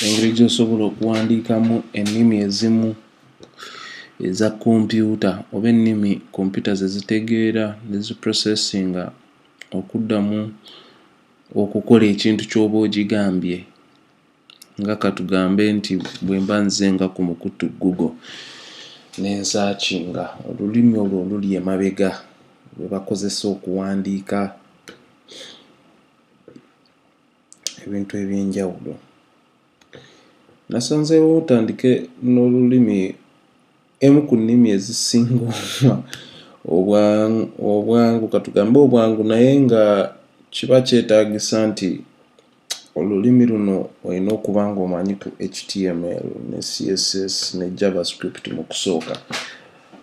engeri gyosobola okuwandiikamu ennimi ezimu eza kompyuta oba ennimi kompyuta zezitegeera neziprocessinga okuddamu okukola ekintu kyoba ogigambye nga katugambe nti bwemba nze nga ku mukutu google nensakinga olulimi olwo oluli emabega lwebakozesa okuwandiika ebintu eby'enjawulo. Nasanzeewo otandike n'olulimi emu ku nnimi ezisinga obwangu ka tugambe obwangu naye nga kiba kyetaagisa nti olulimi luno olina okuba ng'omanyi ku HTML ne CSS ne JavaScript mu kusooka.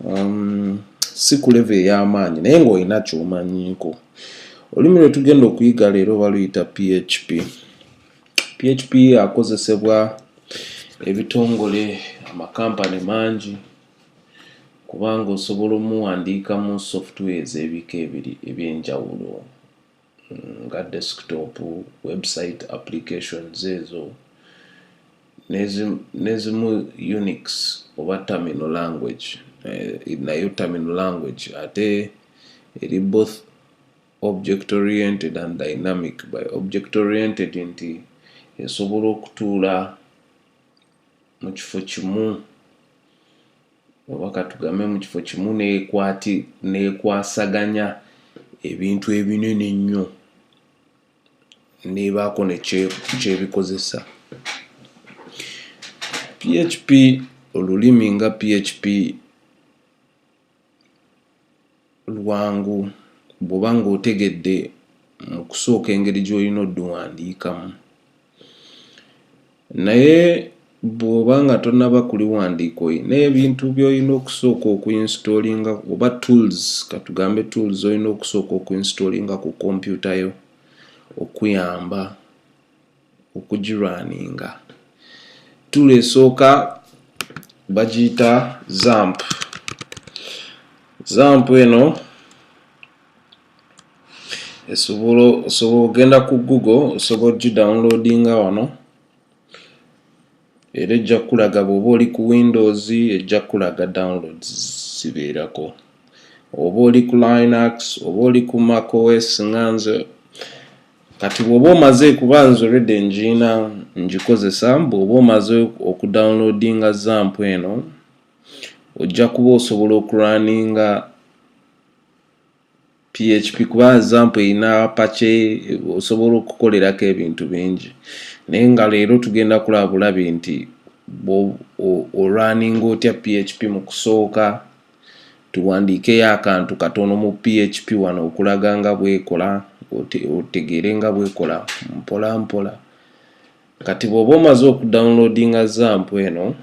um, si ku levo ey'amaanyi naye ng'olina kyomanyiiko olulimi lwe tugenda okuyiga leero baluyita php php akozesebwa ebitongole amakampani mangi kubanga osobola omuwandiika mu software ez'ebika ebiri eby'enjawulo nga desktop, website applications ezo nezimu Unix oba terminal language eh, nayo terminal language ate eri both object oriented and dynamic by object oriented nti esobola okutuula mu kifo kimu oba katugambe mu kifo kimu nekwasaganya ebintu ebinene ennyo nebaako nekyebikozesa php olulimi nga php lwangu bw'oba ng'otegedde mu kusooka engeri gy'olina odduwandiikamu. Naye bw'oba nga tonnaba kuliwandiika olina ebintu by'olina okusooka okuinstoolinga oba tools katugambe tools olina okusooka okuinstoolinga ku kompyuta yo okuyamba okugirwaninga tool esooka bagiyita zamp zamp eno esobola osobola ogenda ku google osobola ogidownloadinga wano era ejja kukulaga bw'oba oli ku windows ejja kukulaga downloads zibeerako oba oli ku linux oba oli ku mac os nga nze kati bwoba omaze kuba nze olwedde enjiina ngikozesa bwoba omaze okudownloadinga zampu eno ojja kuba osobola okurunninga php kuba zampu erina pace osobola okukolerako ebintu bingi naye nga leero tugenda kulaba bulabi nti olwaninga otya php mu kusooka Tuwandiikeyo akantu katono mu PHP wano okulaga nga bwekola otegeere nga bwekola mpola mpola. Kati bw'oba omaze okudownloadinga zamp eno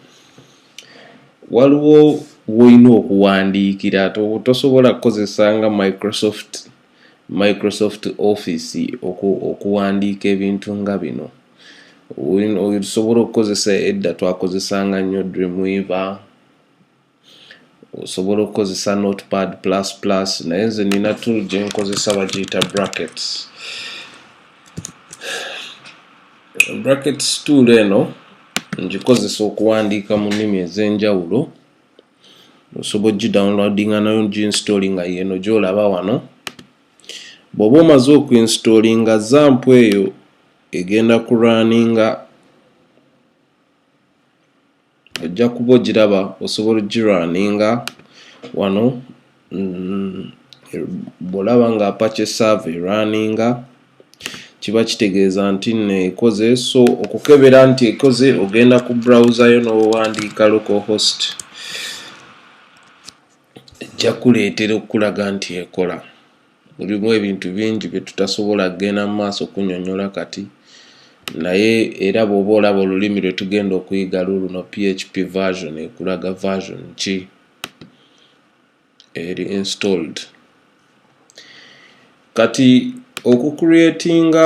waliwo wolina okuwandiikira tosobola kukozesa nga Microsoft Microsoft Office okuwandiika ebintu nga bino osobola okukozesa edda twakozesanga nnyo Dreamweaver osobola okukozesa notepad plus plus naye nze nina tool gyenkozesa bagiyita brackets brackets tool eno ngikozesa okuwandiika mu nnimi ez'enjawulo osobola ogidownloadinga nayo nginstallinga yeno gyolaba wano bw'oba omaze okuinstallinga zampu eyo egenda kurunninga ojja kuba ogiraba osobola ogirwaninga wano mm, bwolaba nga apache serve erwaninga kiba kitegeeza nti neekoze so okukebera nti ekoze ogenda ku browser yo n'owandiika local host ejja kuleetera okukulaga nti ekola Mulimu ebintu bingi bye tutasobola kugenda mu maaso kunyonyola kati naye era bw'oba olaba olulimi lwe tugenda okuyiga luluno php version ekulaga version ki eri installed kati okucreatinga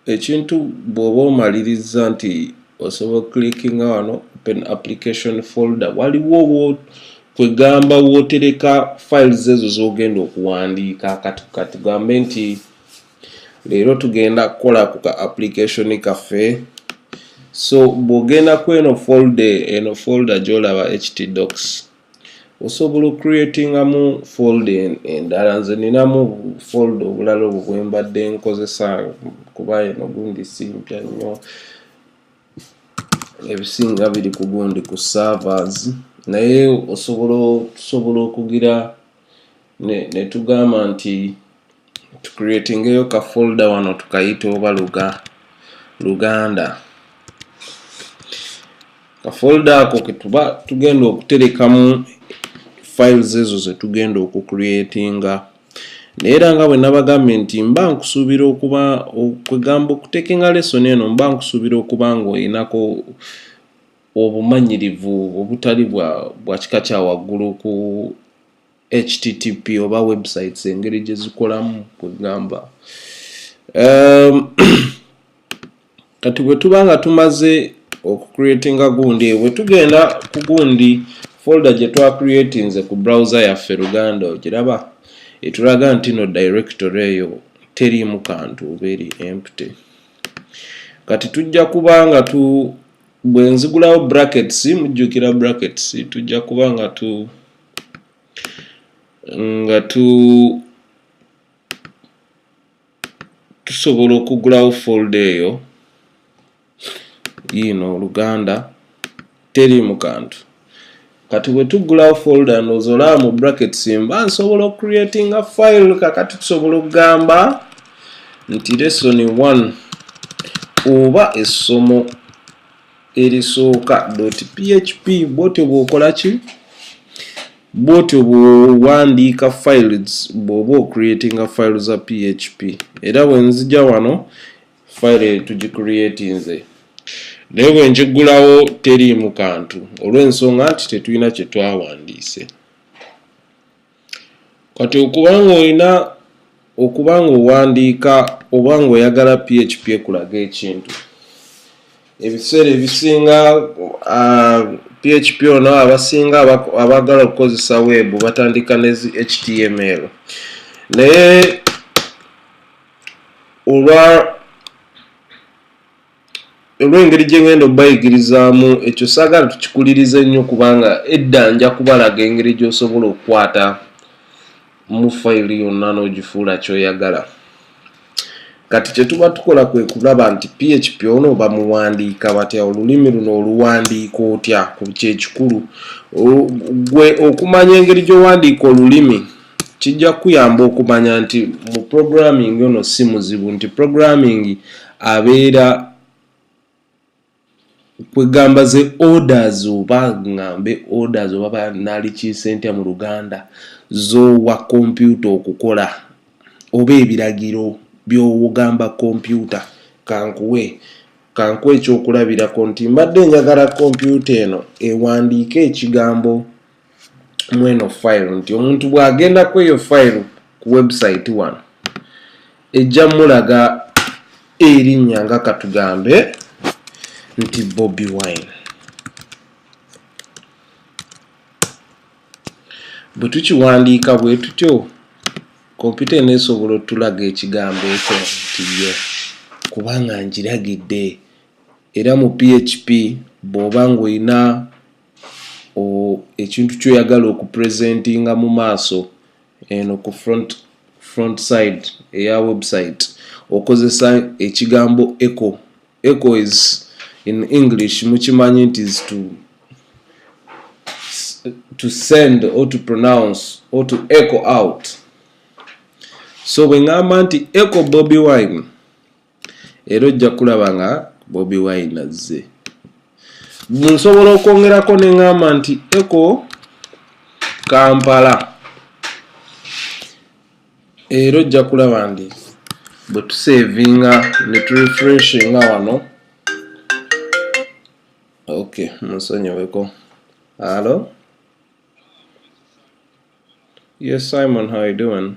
ekintu bwoba omaliriza nti osobola clickinga wano open application folder waliwo kwegamba wotereka files ezo zogenda okuwandiika kati katugambe nti leero tugenda kukola ku ka application kaffe so bwogenda kweno folder eno folder gyolaba htdocs osobola okcreatingamu fold endala nze ninamu fold obulala obwo bwembadde nkozesa kuba eno gundi simpya nnyo ebisinga biri ku gundi ku servers naye osobola okugira netugamba ne nti tucreatingeyo ka folda wano tukayita oba luga luganda kafolda ako ketuba tugenda okuterekamu files ezo zetugenda okucreatinga naye era nga bwe nabagambye nti mba nkusuubira okuba okwegamba okutekenga lesson eno mba nkusuubira okuba ngaoyinako obumanyirivu obutali bwa bwa kika kya waggulu ku http oba websites engeri gye zikolamu kwegamba um, kati bwe tuba nga tumaze okucreatinga gundi bwe tugenda ku gundi folda gye twacreatinze ku browser yaffe luganda ogiraba etulaga nti no directory eyo teriimu kantu oba eri empty kati tujja kuba nga tu bwe nzigulawo brackets mujjukira brackets tujja kuba nga tu nga tu tusobola okugulawo folda eyo yiino oluganda teri mu kantu kati bwetuggulawo folder ndowooza olaba mu brackets mba nsobola ocreatinga file kakati tusobola okugamba nti lesson 1 oba essomo erisooka php bwotyo bwokola ki bwotyo bwowandiika files bwoba ocreatinga file za php era bwenzija wano file tugicreatinze naye bwe ngiggulawo teriimu kantu olw'ensonga nti tetulina kye twawandiise kati okuba ng'olina okuba ng'owandiika oba ng'oyagala php ekulaga ekintu ebiseera ebisinga ah, php ono abasinga abaagala okukozesa weebu batandika ne zi html naye olwa olw'engeri gye ngenda okubayigirizaamu ekyo saagala tukikulirize nnyo kubanga edda nja kubalaga engeri gy'osobola okukwata mu fayiro yonna n'ogifuula kyoyagala kati kye tuba tukola kwe kulaba nti php ono bamuwandiika batya olulimi luno oluwandiika otya ku kyekikulu gwe okumanya engeri gy'owandiika olulimi kijja kukuyamba okumanya nti mu programming ono si muzibu nti programming abeera kwegamba ze orders oba ngambe orders oba banalikiise ntya mu luganda zowa kompyuta okukola oba ebiragiro byowogamba kompyuta kankuwe kankuwa ekyokulabirako nti mbadde njagala kompyuta eno ewandiika ekigambo mweno file nti omuntu bwagenda kweyo file ku website wano ejja mulaga erinnya nga katugambe nti bobi wine bwe tukiwandiika bwe tutyo kompyuta eno esobola otulaga ekigambo ekyo nti ye kubanga ngiragidde era mu php bw'oba ng'olina ekintu kyoyagala okupresentinga mu maaso eno ku front front side eya website okozesa ekigambo eco eco is in english mukimanyi nti is to to send or to pronounce or to eco out so bwe ŋamba nti eco bobi wine era ojja kulaba nga bobi wine azze nsobola okwongerako ne ŋŋamba nti eko kampala era ojja kulaba nti bwe tuseevinga ne turefreshinga wano ok musonyiweko alo yes simon how you doing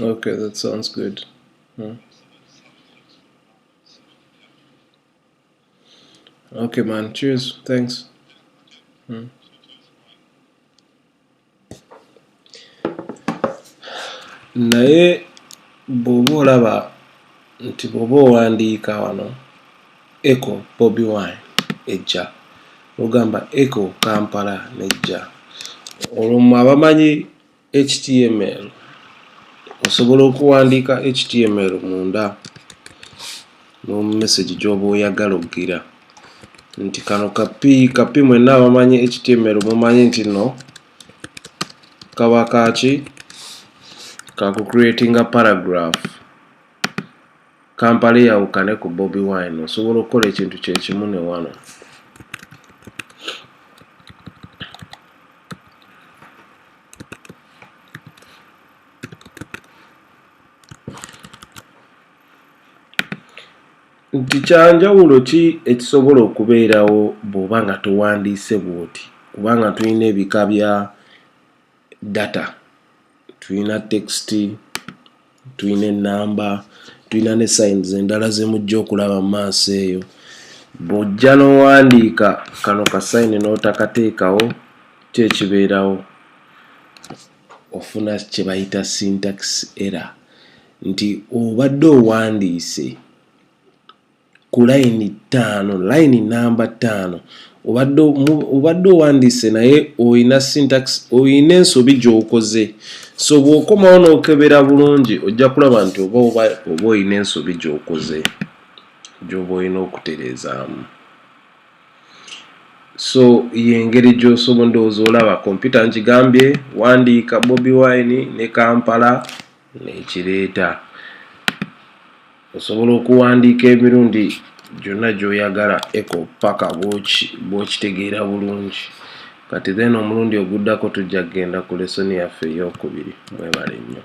Okay, that sounds good. Hmm. Okay, man. Cheers. Thanks. Hmm. naye bw'oba olaba nti bw'oba owandiika wano Eko Bobi Wine ejja. Lwogamba Eko Kampala nejja. Olwo mwe abamanyi HTML osobola okuwandiika HTML munda mu message gyoba oyagala okugira nti kano kapi kapi mwenna abamanyi HTML mumanyi nti no kaba kaki kaku creatinga paragraph Kampala eyawukane ku Bobi Wine osobola okukola ekintu kyekimu ne wano. nti kyanjawulo ki ekisobola okubeerawo bw'oba nga towandiise bw'oti kubanga tulina ebika bya data tulina text tulina enamba tulina ne signs endala zemujja okulaba mu maaso eyo bw'ojja n'owandiika kano ka sayini n'otakateekawo kyekibeerawo ofuna kye bayita syntax error nti obadde owandiise ku layini ttaano layini namba ttaano obadde owandiise naye olina sintax olina ensobi gyokoze so bwokomawo nokebera bulungi ojja kulaba nti oba oba olina ensobi gyokoze gyoba olina okutereezaamu so yengeri gyosobola ndowooza olaba kompyuta nkigambye wandiika bobi wine ne kampala nekireeta osobola okuwandiika emirundi gyonna gyoyagala eko paka bwokitegeera bulungi kati then omulundi oguddako tujja kugenda ku lesoni yaffe eyokubiri mwebale nnyo